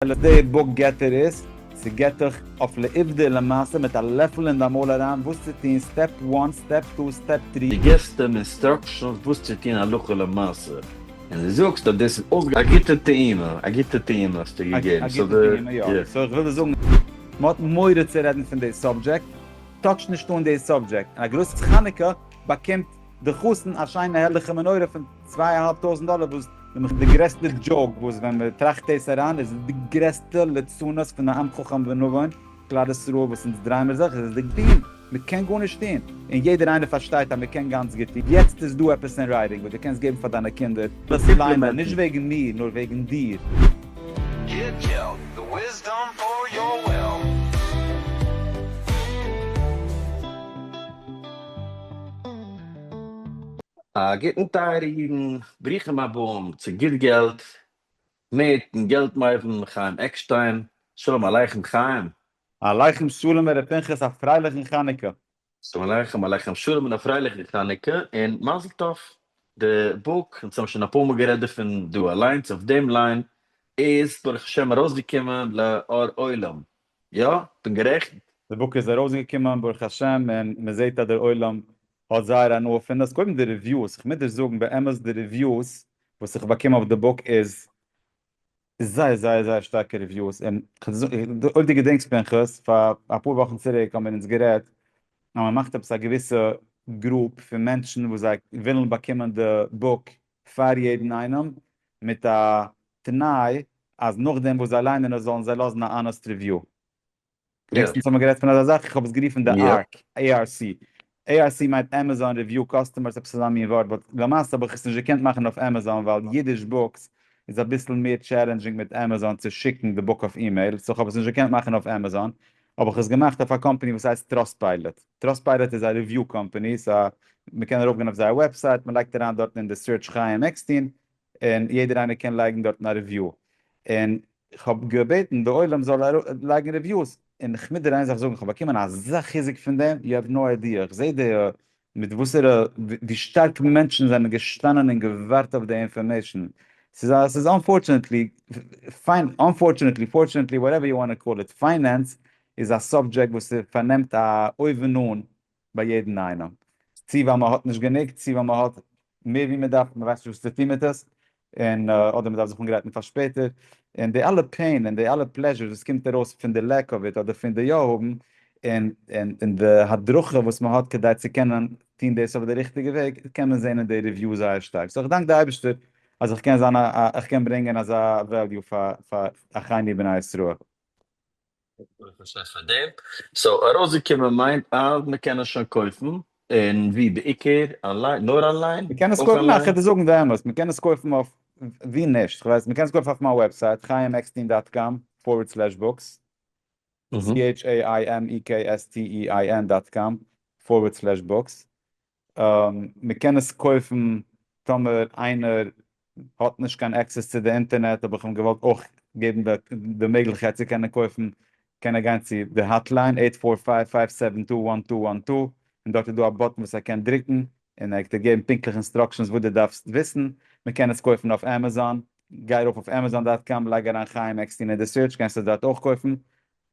על די בוק געטער איז, ס'געט דיך אויף לעובדה למעשה מיט א לעפל אין דיין מויל אריין וואס צו טון סטעפ וואן, סטעפ טו, סטעפ טרי. דו געבסט אים אינסטראקשענס וואס צו טון הלכה למעשה, און דו זאגסט אז דאס איז אויסגע. א גוטע טעימה, א גוטע טעימה האסטו געגעבן, סאו די. סאו איך וויל דיר זאגן, מ'האט מורא צו רעדן פון די סאבדזשעקט, טאטש נישט אן די סאבדזשעקט, און א גרוס חנוכה באקומט. די חתן א שיינע הערליכע מנורה פון צוויי א האלב טויזענט דאלער וואס נעמעך די גרעסטע דזשאוק וואס ווען מען טראכט דאס אריין איז עס די גרעסטע ליצנות פון א עם חכם ונבון כלל ישראל וואס אונז דריי מיר זיך איז עס די דין מען קען גארנישט טון און יעדער איינער פארשטייט אז מען קען גאנץ גוט טון יעצט איז דא עפעס אין רייטינג וואס די קענסט געבן פאר דיינע קינדער עפעס ליינען נישט וועגן מיר נאר וועגן דיר. א גוטן טייערע אידן, ברוכים הבאים צו גוט געלט מיטן געלט מבין חיים עקשטיין, שלום עליכם חיים. עליכם שלום ר' פנחס א פרייליכן חנוכה. שלום עליכם עליכם שלום און א פרייליכן חנוכה און מזל טוב. די בוק, אונז האבן שוין אפאר מאל גערעדט דערפון דא אליינס אויף דעם ליין, איז ברוך השם ארויסגעקומען לאור עולם. יא, כ'בין גערעכנט. די בוק איז ארויסגעקומען ברוך השם און מען זעט אז דער עולם האט זייער הנאה פון עס, קודם די ריוויוס, איך מוז דיר זאגן באמת די ריוויוס וואס איך באקום אויף די בוק איז זייער זייער זייער שטארקע ריוויוס, און אויב דו געדענקסט פנחס פאר אפאר וואכן צוריק האבן מיר אונז גערעדט אז מען מאכט עפעס א געוויסע גרופ פון מענטשן וואס זיי ווילן באקומען די בוק פאר יעדן איינעם, מיט א תנאי אז נאכדעם וואס זיי ליינען עס זאלן זיי לאזן א אנעסט ריוויו. לעצטנס האט מען גערעדט פון אזא זאך, איך האב עס גערופן די ארק, ARC. ARC מיינט עמעזאן ריוויו קאסטומערס עפעס אזא מין ווארט, באט למעשה האב איך עס נישט געקענט מאכן אויף עמעזאן ווייל אידיש בוקס איז אביסל מער טשעלענדזשינג מיט עמעזאן צו שיקן די בוק אויף אימעיל, סאו איך האב עס נישט געקענט מאכן אויף עמעזאן, האב איך עס געמאכט אויף א קאמפאני וואס הייסט טראסטפיילעט. טראסטפיירעט איז א ריוויו קאמפעני סא מען קען ארויפגיין אויף זייער וועבסייט מען לייגט אריין דארטן אין די סירטש חיים עקסטין און יעדער איינער קען לייגן דארטן א ריוויו און כ'האב געבעטן די עולם זאל לייגן ריוויוס און כ'מוז דיר איין זאך זאגן כ'האב באקומען אזא חיזוק פון דעם יו העוו נאו איידיע איך זעה די מיט וואסערע ווי שטארק מענטשן זענען געשטאנען און געווארט אויף די אינפארמעישן ס'איז א ס'איז אנפארטשענעטלי פיין אנפארטשענעטלי פארטשענעטלי וואטעווער יו וואנט טו קאל איט פיינענס איז א סאבדזשעקט וואס פארנעמט א אויבן אן ביי יעדן איינעם, צי ווייל מען האט נישט גענוג, צי ווייל מען האט מער ווי מען דארף, מען ווייסט נישט וואס צו טון מיט עס, און אדער מען דארף זיך אנגרייטן פאר שפעטער, און די אלע פעין און די אלע פלעזשור וואס קומט ארויס פון די לעק אוו איט אדער פון די יא האבן, און און די הדרכה וואס מען האט כדי צו קענען טון דאס אויף די ריכטיגע וועג, קען מען זען אין די ריוויו זייער שטארק, סאו איך דאנק די אייבערשטער אז איך קען זיין א איך קען ברענגען אזא וועליו פאר אחינו בני ישראל. פאר דעם. סאו ארויסגעקומען מיינט אז מען קען עס שוין קויפן, און ווי בעיקר? אנליין? נאר אנליין? מען קען עס אויך קויפן, אנליין? כדי זאגן די אמת, מען קען עס קויפן אויף, ווי נישט? כ'ווייס, מען קען עס קויפן אויף מיין וועבסייט, חיים עקסטין דאט קאם פארווערד סלעש בוקס, אהה. CHAIMEKSTEIN דאט קאם פארווערד סלעש בוקס. מען קען עס קויפן טאמער איינער האט נישט קיין עקסעס צו די אינטערנעט האב איך אים געוואלט אויך געבן די מעגליכקייט צו קענען קויפן קען ער גיין צו די האטליין אייט פאר פייוו פייוו סעווען טו וואן טו וואן טו און דארט איז דא א באטן וואס ער קען דרוקן און ער וועט דיר געבן פונקטליך אינסטראקשענס וואס דו דארפסט וויסן, מען קען עס קויפן אויף עמעזאן, גיי ארויף אויף עמעזאן דאט קאם לייג אריין חיים עקסטין אין די סירטש קענסט עס דארט אויך קויפן,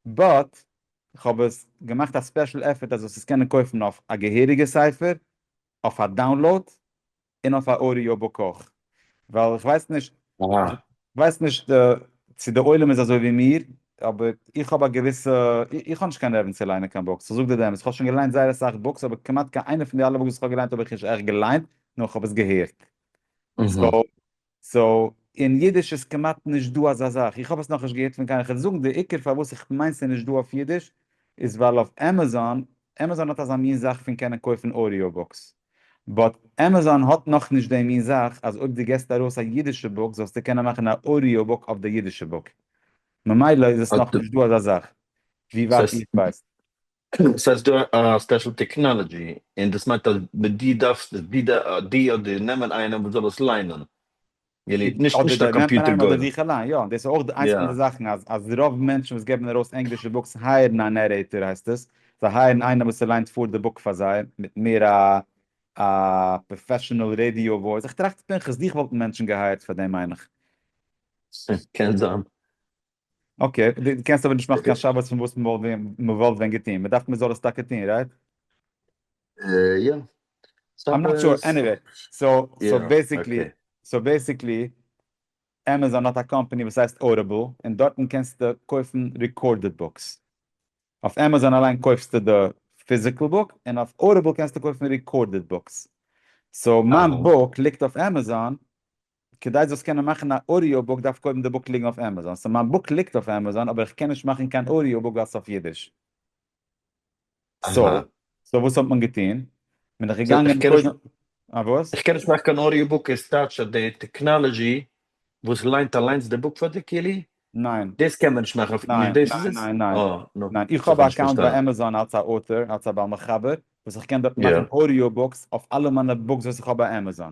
באט איך האב עס געמאכט א ספעשל עפערט אז דאס עס קענען קויפן אויף א געהעריגע ספר, אויף א דאונלאוד, און אויף א אודיאו בוק אויך, ווייל איך ווייס נישט, אהא. כ'ווייס נישט צו די עולם איז אזוי ווי מיר, אבער איך האב א געוויסע, איך האב נישט קיין נערוון צו ליינען קיין בוקס, איך זאג דיר די אמת, איך האב שוין געליינט זייער אסאך בוקס, אבער כמעט קיין איינע פון די אלע בוקס וואס איך האב געליינט האב איך נישט עכט געליינט, נאר איך האב עס געהערט. אהא. סאו, סאו אין אידיש איז כמעט נישט דא אזא זאך, איך האב עס נאכנישט געהערט פון קיינעם, כ'וועל זאגן די עיקר פארוואס איך מיין ס'איז נישט דא אויף אידיש איז ווייל אויף עמעזאן, עמעזאן האט אזא מין זאך פון קענען קויפן אודיאו בוקס, באט עמעזאן האט נאכנישט די מין זאך אז אויב דו געסט ארויס א אידישע בוק זאלסטו קענען מאכן א אודיאו בוק אויף די אידישע בוק, ממילא איז עס נאכנישט דא אזא זאך ווי ווייט איך ווייס. סאיז דא א ספעשל טעקנאלעדזשי און דאס מיינט אז די דארפסט די אדער נעמען איינעם וואס זאל עס ליינען געליט נישט אדער נישט א די נעמט מען קאמפיוטער איינעם אדער גורם זיך אליין יא דאס איז אויך איינס פון די יא זאכן אז אז רוב מענטשן וואס געבן ארויס ענגלישע בוקס הייערן א נערעיטער הייסט עס זיי הייערן איינעם וואס ס'ליינט פאר די בוק פאר זיי מיט מער א א פראפעשענעל רעדיאו וואויס איך טראכט פנחס דיך וואלטן מענטשן געהייערט פאר דעם מיין איך. קען זיין. אקעי, דו קענסט אבער נישט מאכן קיין שבת פון וואס מ'וואלט ווען געטון, מ'דארף מ'זאל עס טאקע טון, רייט? יא. איים נאט שור, עניוועי, סאו בעסיקלי, סאו בעסיקלי, עמעזאן האט א קאמפאני וואס הייסט אודיבל, און דארטן קענסטו קויפן ריקארדעד בוקס. אויף עמעזאן אליין קויפסטו די פיזיקעל בוק, און אויף אודיבל קענסטו קויפן ריקארדעד בוקס. סאו מיין בוק ליגט אויף עמעזאן, כדי זאלסט קענען מאכן א אודיאו בוק דארף קודם די בוק ליגן אויף עמעזאן, סאו מיין בוק ליגט אויף עמעזאן אבער איך קען נישט מאכן קיין אודיאו בוק ווייל ס'איז אויף אידיש. אהא. סאו וואס האט מען געטון? מען איז געגאנגען קודם. אה וואס? איך קען נישט מאכן קיין אודיאו בוק איז טייטש אז די טעקנאלעזשי וואס ליינט אליינס די בוק פאר דיר כאילו? ניין. דאס קען מען נישט מאכן אויף נישט דאס איז עס? ניין ניין ניין. אה נו. ניין איך האב א אקאונט ביי עמעזאן אלץ א אוטער אלץ א בעל מחבר וואס איך קען דארט מאכן אודיאו בוקס אויף אלע מיינע בוקס וואס איך האב ביי עמעזאן.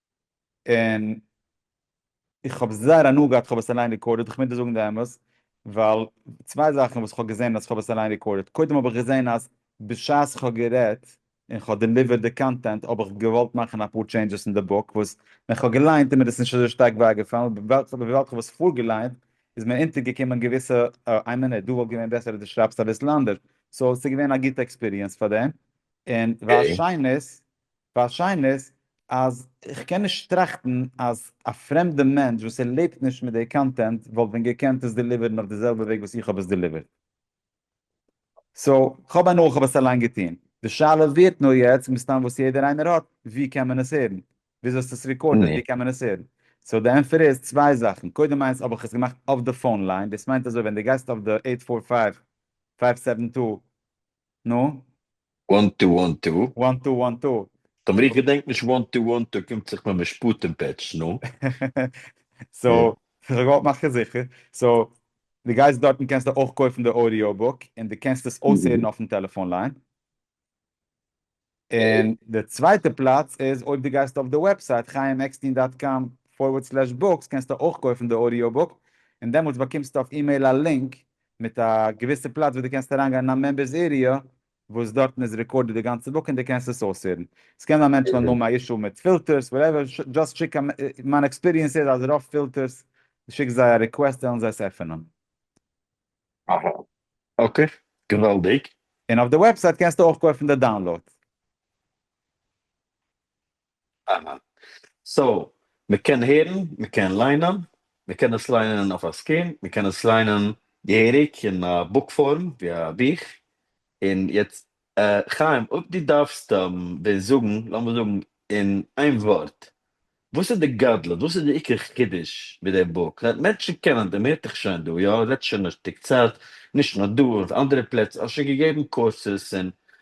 און איך האב זייער הנאה געהאט כ'האב עס אליין רעקארדעד, כ'מוז דיר זאגן די אמת, ווייל צוויי זאכן וואס כ'האב געזען אז כ'האב עס אליין רעקארדעד, קודם האב איך געזען אז בשעת כ'האב גערעדט און כ'האב דעליווערט די קאנטענט האב איך געוואלט מאכן אפאר טשעינדזשעס אין די בוק וואס ווען כ'האב געליינט איז מיר עס נישט אזוי שטארק ווייגעפאלן, וויבאלד כ'האב עס פארגעליינט איז מיר אונטערגעקומען געוויסע איי מינוט דא וואלט געווען בעסער אז דו שרייבסט אביסל אנדערש, סאו ס'איז געווען א גוטע עקספיריענס פאר דעם, און וואס שיין איז ווייל שיין איז אז איך קען נישט טראכטן אז א פרעמדע מענטש וואס ער לעבט נישט מיט די קאנטענט וואלט ווען געקענט עס דעליווערן אויף די זעלבע וועג וואס איך האב עס דעליווערט. סאו, כ'האב הנאה כ'האב עס אליין געטון. די שאלה ווערט נאר יעצט מסתם וואס יעדער איינער האט, ווי קען מען עס הערן? וויאזוי האסטו עס ריקארדעד? ווי קען מען עס הערן? סאו די ענפער איז צוויי זאכן, קודם איינס האב איך עס געמאכט אויף די פאון ליין, דאס מיינט אזוי ווען דו גייסט אויף די עיט פאר פייוו פייוו סעווען טו, נו? וואן טו וואן טו. וואן טו וואן טו. טאמער איך געדענק נישט וואן טו וואן טו קומט זיך מיט משפטים פעטש, נו. סאו כ'זאל געוואלט מאכן זיכער, סאו די גייסט דארטן קענסטו אויך קויפן די אודיאו בוק און די קענסט עס אויסהערן אויפן טעלעפאן ליין, און די צווייטע פלאץ איז אויב די גייסט אויף די וועבסייט חיים עקסטין דאט קאם פארווערד סלעש בוקס קענסטו אויך קויפן די אודיאו בוק און דעמאלטס באקומסטו אויף אימעיל א לינק מיט א געוויסע פלאץ וואס דו קענסט אריינגיין אין א מעמבערס עריע וואס דארטן איז רעקארדעד די גאנצע בוק און דו קענסט עס אויסהערן. עס קען זיין מענטשן וועלן האבן א אישו מיט פילטערס וואטעווער, דזשאסט שיק א, מיין עקספיריענס איז אז רוב פילטערס דו שיקסט זיי א ריקוועסט וועלן זיי עס עפענען. אהא אקעי געוואלדיג. און אויף די וועבסייט קענסטו אויך קויפן די דאונלאוד. אהא. סאו מ'קען הערן, מ'קען ליינען, מ'קען עס ליינען אויף א סקרין, מ'קען עס ליינען געהעריג אין א בוק פארם ווי א בוך, און יעצט חיים אויב דו דארפסט מיר זאגן, לאמיר זאגן אין איין ווארט, וואס איז די גדלות, וואס איז די עיקר חידוש מיט די בוק? מענטשן קענען דעם, מ'הערט דיך שוין דא, יא, רעדט שוין א שטיק צייט, נישט נאר דא, אויף אנדערע פלעצער, האסט שוין געגעבן קורסעס און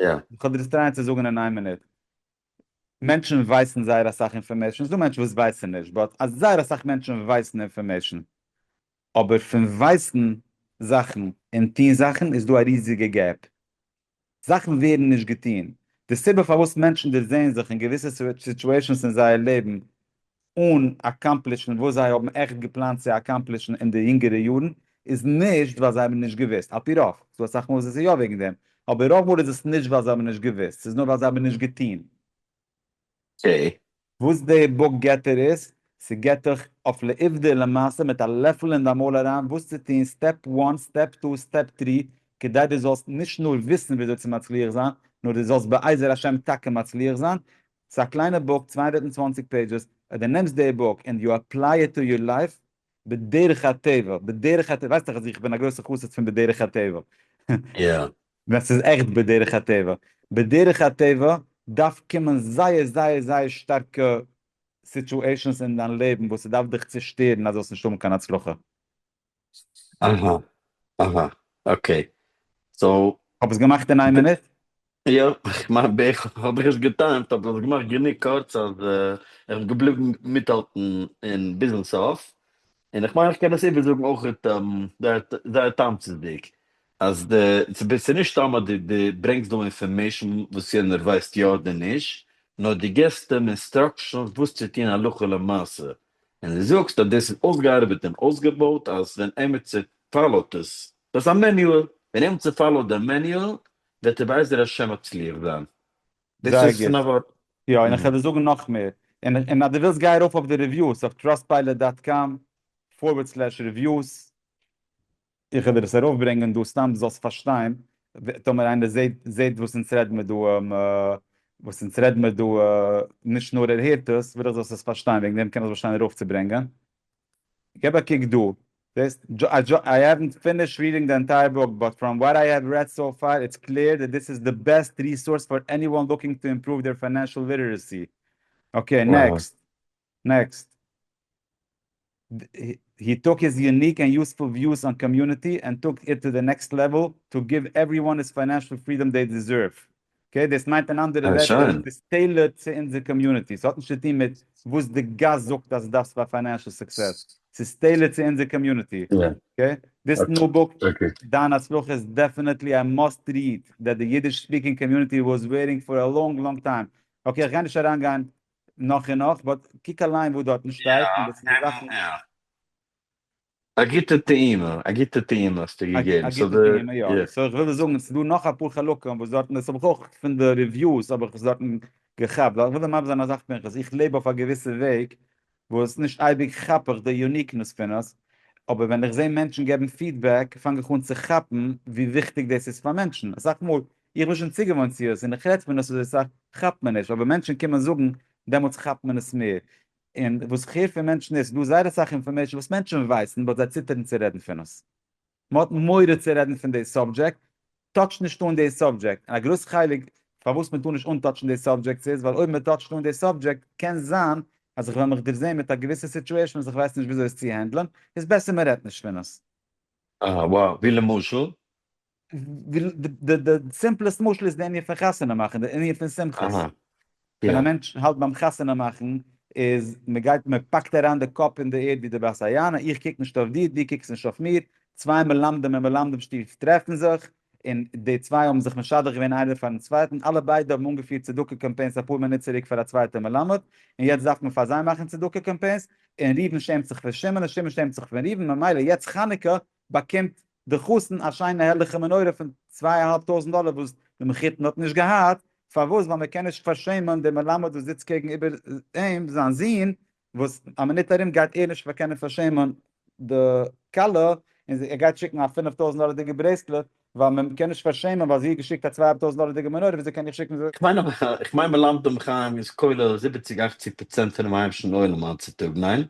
יא. איך האב דיר עס טרייען צו זאגן אין איין מינוט. מענטשן ווייסן זייער אסאך אינפארמעישן, ס'דא מענטשן וואס ווייסן נישט, באט זייער אסאך מענטשן ווייסן אינפארמעישן. אבער פון ווייסן זאכן און טון זאכן איז דא א ריזיגע געפ. זאכן ווערן נישט געטון. די סיבה פארוואס מענטשן דערזעען זיך אין געוויסע סיטואשענס אין זייער לעבן אן אקאמפלישן וואס זיי האבן עכט געפלאנט צו אקאמפלישן אין די יונגערע יארן, איז נישט ווייל זיי האבן נישט געוואוסט, על פי רוב, ס'דא אסאך מאל וואס עס איז יא וועגן דעם, אבער רוב מאל איז עס נישט ווייל זיי האבן נישט געוואוסט, ס'איז נאר ווייל זיי האבן נישט געטון. צו. וואס די בוק געט דיר איז, ס'געט דיך אויף לעובדה למעשה מיט א לעפל אין דיין מויל אריין וואס צו טון, סטעפ וואן, סטעפ טו, סטעפ טרי, כדי דו זאלסט נישט נאר וויסן וויאזוי צו מצליח זיין, נאר דו זאלסט בעזר השם טאקע מצליח זיין, ס'איז א קליינע בוק, צוויי הונדערט און צוואַנציק פעידזשעס, אויב דו נעמסט די בוק און יו עפליי איט טו יור לייף, בדרך הטבע, בדרך הטבע, ווייסט דאך אז איך בין א גרויסע חסיד פון בדרך הטבע, ווען ס'איז עכט בדרך הטבע, בדרך הטבע דארף קומען זייער זייער זייער שטארקע סיטואשענס אין דיין לעבן וואס ס'דארף דיך צושטערן אז זאלסט נישט האבן קיין הצלחה. אהא אהא אקעי סאו. כ'האב עס געמאכט אין איין מינוט? יא, כ'מיין בערך האב איך עס געטיימט אבער כ'האב עס געמאכט גענוג קורץ אז כ'בין געבליבן מיטהאלטן און ביזן סוף, און איך מיין כ'קען עס איבערזאגן אויכעט זייער תמצית'דיג אז די ס'איז נישט סתם אז די ברענגסט דא אינפארמעישן וואס יענער ווייסט יא אדער נישט, נאר די געסט אים אינסטראקשענס וואס צו טון הלכה למעשה, און דו זאגסט אז דאס איז אויסגעארבעט און אויסגעבויט אז ווען עמיצער פאלאוט עס, דאס איז א מעניועל, ווען עמיצער פאלאוט דעם מעניועל וועט ער בעזר השם מצליח זיין. דאס זייער איז פון א גוט. ווארט. יא, און איך וועל דיר זאגן נאך מער. און אז דו ווילסט גיי ארויף אויף די רעוויוס אויף טראסטפיילעט דאט קאם פארווערד סלעש רעוויוס. איך וועל דיר עס ארויף ברענגען דא סתם דו זאלסט פארשטיין, טאמער איינער זעהט וואס אונז רעד מיר דא, וואס אונז רעד מיר דא, נישט נאר ער הערט עס, וויל איך זאלסט עס פארשטיין, וועגן דעם קען איך באשטיין ארויף צו ברענגען. געב א קוק דא, זעהסט, איי העווענט פינישד ריעדינג די ענטייער בוק, באט פראם וואט איי העוו רעד סאו פאר, איטס קלער דעט דיס איז די בעסט ריסארס פאר עניוואן לוקינג טו אימפראוו דעיר פיינענשעל ליטערעסי. אקעי נעקסט. נעקסט. הי טוק היז יוניק ענד יוספול וויוס אן קאמיוניטי ענד טוק איט טו די נעקסט לעוועל טו גיוו עווריוואן איז פיינענשעל פרידאם דעי דיזערוו. אקעי דאס מיינט אין אנדערע ווערטער עס איז טעילארד צו אונזער קאמיוניטי. ס'האט נישט צו טון מיט וואס די גאס זאגט אז דארפסט פאר פיינענשעל סוקסעס. ס'איז טעילארד צו אונזער קאמיוניטי. אקעי דיס ניו בוק דיין הצלחה איז דעפענעטלי א מאסט ריעד דעט די אידיש ספיקינג קאמיוניטי וואס וועיטינג פאר א לאנג לאנג טיים. אקעי איך גיי נישט אריינגיין נאך און נאך, באט קוק אליין וואס דארטן שטייט און וואס פארא זאכן. יא יא. א גוטע טעימה, א גוטע טעימה האסטו געגעבן. סאו די. א גוטע טעימה, יא. סאו איך וויל דיר זאגן, עס איז דא נאך אפאר חלקים וואס דארטן, דאס האב איך אויך פון די ריוויוס האב איך עס דארטן געכאפט, ווייל איך וויל דיר מסביר זיין אזאך פנחס, איך לעב אויף א געוויסע וועג וואס נישט אייביג כאפ איך די יוניקנעס פון עס, אבער ווען איך זע מענטשן געבן פידבעק פאנג איך אן צו כאפן ווי וויכטיג דאס איז פאר מענטשן, אסאך מאל איך בין שוין צוגעוואוינט צו עס און איך רעדט פון עס אזוי סאך כאפט מען נישט אבער ווען מענטשן קומען זאגן דעמאלטס כאפט מען עס מער און וואס איך הער פון מענטשן איז ס'דא זייער אסאך אינפארמעישן וואס מענטשן ווייסן באט זיי ציטערן צו רעדן פון עס מען האט מורא צו רעדן פון די סאבדזשעקט טאטש נישט אן די סאבדזשעקט און א גרויס חלק פארוואס מען טאר נישט אנטאטשן די סאבדזשעקטס איז ווייל אויב מען טאטשט אן די סאבדזשעקט קען זיין אז איך וועל מיך דערזעהן מיט א געוויסע סיטועשן וואס איך ווייס נישט וויאזוי עס צו הענדלען איז בעסער מען רעדט נישט פון עס. אה וואו? ווי למשל? די סימפלעסט משל איז די ענין פון חתונה מאכן, די ענין פון שמחות. ווען א מענטש האלט ביים חתונה מאכן, איז מ'גייט מ'פאקט אריין די קאפ אין די ערד ווי די בת היענה, איך קוק נישט אויף דיר, דו קוקסט נישט אויף מיר, צוויי מלמדים אין מלמדים שטוב טרעפן זיך, און די צוויי האבן זיך משדך געווען איינער פארן צווייטן, אלע ביידע האבן אנגעפירט צדקה קאמפיינס אפאר מינוט צוריק פאר א צווייטע מלמד, און יעצט דארף מען פאר זיי מאכן צדקה קאמפיינס, און ראובן שעמט זיך פון שמעון און שמעון שעמט זיך פון ראובן, ממילא יעצט חנוכה באקומט די חתן א שיינע הערליכע מנורה פון צוויי אהאלב טויזנט דאלער וואס די מחותן האט נישט געהאט, פארוואס? ווייל מען קען נישט פארשעמען דעם מלמד וואס זיצט קעגן איבער אים, זיין זון, וואס א מינוט ארום גייט ער נישט קענען פארשעמען די כלה, און ער גייט שיקן א פינף טויזנט דאלערדיגע ברעסלעט, ווייל מען קען נישט פארשעמען ווייל זי האט געשיקט א צוויי אהאלב טויזנט דאלערדיגע מנורה, וויאזוי קען איך שיקן? איך מיין מלמד אום חיים איז כולל זיבעציג אכציג פראצענט פונעם היימישן עולם היינט צוטאג, ניין?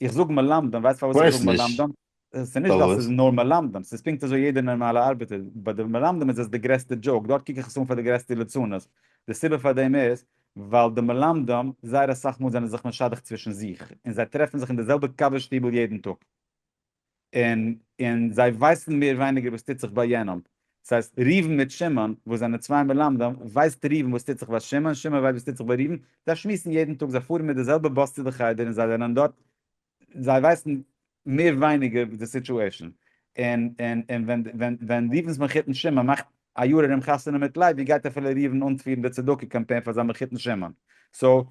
איך זאג מלמדים, ווייסט פארוואס איך זאג מלמדים? עס איז נישט ווייל עס איז נאר מלמדים, עס איז פונקט אזוי יעדער נארמאלע ארבעטער, ביי די מלמדים איז עס די גרעסטע דזשאוק, דארט קוק איך עס אן פאר די גרעסטע ליצנות, די סיבה פאר דעם איז ווייל די מלמדים זייער אסאך מאל זענען זיך משדך צווישן זיך, און זיי טרעפן זיך אין די זעלבע קאווע שטיבל יעדן טאג, און און זיי ווייסן מער ווייניגער וואס טוט זיך ביי יענעם, דאס הייסט ראובן מיט שמעון וואס זענען צוויי מלמדים, ווייסט ראובן וואס טוט זיך ביי שמעון, שמעון ווייסט וואס טוט זיך ביי ראובן, זיי שמועסן יעדן טאג, זיי פארן מיט די זעלבע באס צו די חדר און זיי זענען דארט זיי ווייסן מער ווייניגער די סיטואשען און און און ווען ווען ווען ריבן'ס מחותן שמעון מאכט א יאר ארום חתונה מיט לייב ווי גייט אפילו ריבן אנפירן די צדקה קאמפיין פאר זיין מחותן שמעון סאו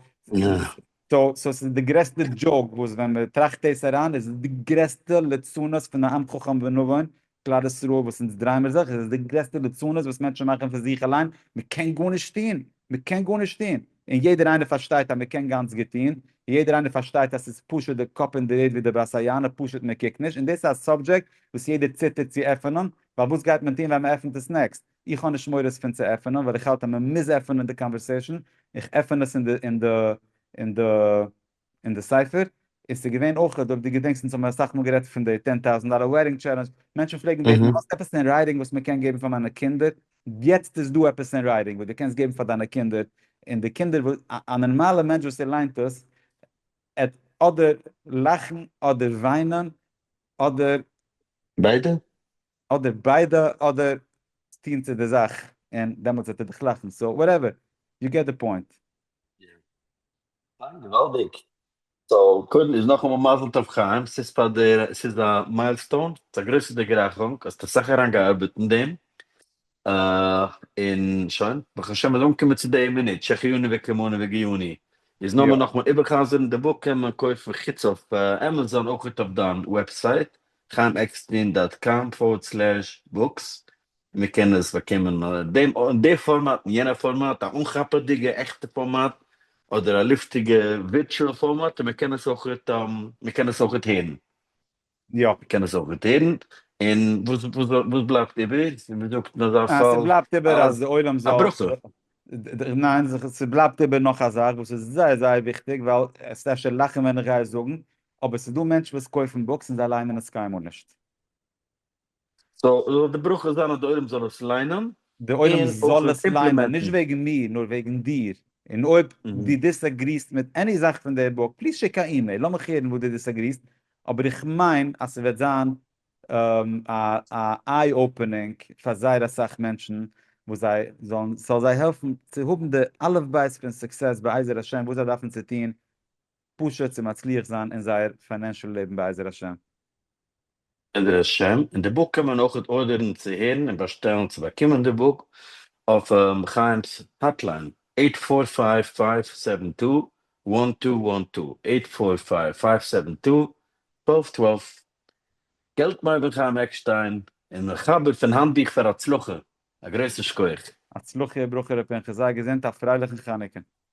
סאו סאו ס'איז די גרעסטע דזשאוק וואס ווען מ'טראכט דאס אריין איז עס די גרעסטע ליצנות פון א עם חכם ונבון כלל ישראל וואס אונז דרייען מיר זיך, עס איז די גרעסטע ליצנות וואס מענטשן מאכן פון זיך אליין, מען קען גארנישט טון, מען קען גארנישט טון, און יעדער איינער פארשטייט אז מען קען גאנץ גוט טון, יעדער איינער פארשטייט אז עס איז פשוט די קאפ אין די ערד ווי די בת היענה, פשוט מען קוקט נישט, און דאס איז א סאבדזשעקט וואס יעדער ציטערט צו עפענען, ווייל וואס גייט מען טון ווען מען עפענט עס נעקסט, איך האב נישט מורא עס פון צו עפענען ווייל איך האלט אז מען מוז עפענען די קאנווערסעישאן, איך עפען עס אין די אין די אין די. אין די ספר איז ס'געווען אויך אויב די געדענקסט אונז האבן מיר אסאך מאל גערעדט פון די טען טאוזענט דאלער וועדינג טשעלענדזש, מענטשן פלעגן בעטן האסט עפעס אין רייטינג וואס מען קען געבן פאר מיינע קינדער, יעצט איז דא עפעס אין רייטינג וואס דו קענסט געבן פאר דיינע קינדער, און די קינדער וואס א נארמאלע מענטש וואס ער ליינט עס עט אדער לאכן אדער וויינען אדער. ביידע? אדער ביידע אדער טון צו די זאך און דעמאלטס וועט ער דיך לאכן, סאו וואטעווער, יו געט די פוינט. אה, געוואלדיג. סאו קודם איז נאכאמאל מזל טוב חיים, ס'איז פאר דער, ס'איז א מיילסטאון, ס'איז א גרויסע דערגרייכונג, האסט אסאך אריין געארבעט אין דעם, און שוין, ברוך השם מ'איז אנגעקומען צו די מינוט, שהחיינו וקיימונו וגייוני, איז נאר מער נאכמאל איבער'חזר'ן די בוק קען מען קויפן חוץ אויף עמעזאן אויך אויף דיין וועבסייט, חיימעקסטרין דאט קאם פארווערד סלעש בוקס, מען קען עס באקומען אין דעם אין דער פארמאט אין יענער פארמאט, א אנכאפעדיגע עכטע פארמאט, אדער א לופטיגע ווירטשועל פארמאט, און מען קען עס אויכעט מען קען עס אויכעט הערן. יא. מען קען עס אויכעט הערן, און וואס וואס וואס בלייבט איבער? ווי מען זאגט אין אזא אה, פאל, ס'בלייבט איבער אז דער עולם א זאל, ברכה. ניין, ס'בלייבט איבער נאך א זאך וואס איז זייער זייער וויכטיג, ווייל עסט אפשר לאכן ווען איך גיי עס זאגן, אבער ס'איז דא מענטשן וואס קויפן בוקס און זיי ליינען עס קיינמאל נישט. סאו זאל די ברכה זיין אז די עולם זאל עס ליינען. די עולם זאל עס ליינען, נישט וועגן מיר, נאר וועגן דיר. און אויב דו דיסעגריסט מיט עני זאך פון די בוק, פליז שיק א אימעיל, לאמיך הערן וואס דו דיסעגריסט, אבער איך מיין אז ס'וועט זיין א איי אפענינג פאר זייער אסאך מענטשן, וואס זיי זאלן, ס'זאל זיי העלפן צו האבן די אלף בית פון סוקסעס בעזר השם וואס זיי דארפן צו טון פשוט צו מצליח זיין אין זייער פיינענשעל לעבן בעזר השם. בעזר השם, און די בוק קען מען אויכעט ארדערן צו הערן און באשטעלן צו באקומען די בוק אויף חיים'ס האטליין, עיט פאר פייוו פייוו סעווען טו וואן טו וואן טו, עיט פאר פייוו פייוו סעווען טו טוועלוו טוועלוו. געלטמאן בן חיים עקשטיין און מחבר פון האנטביך פאר הצלחה, א גרויסן שכח. הצלחה וברכה ר' פנחס, זיי געזונט, א פרייליכן חנוכה.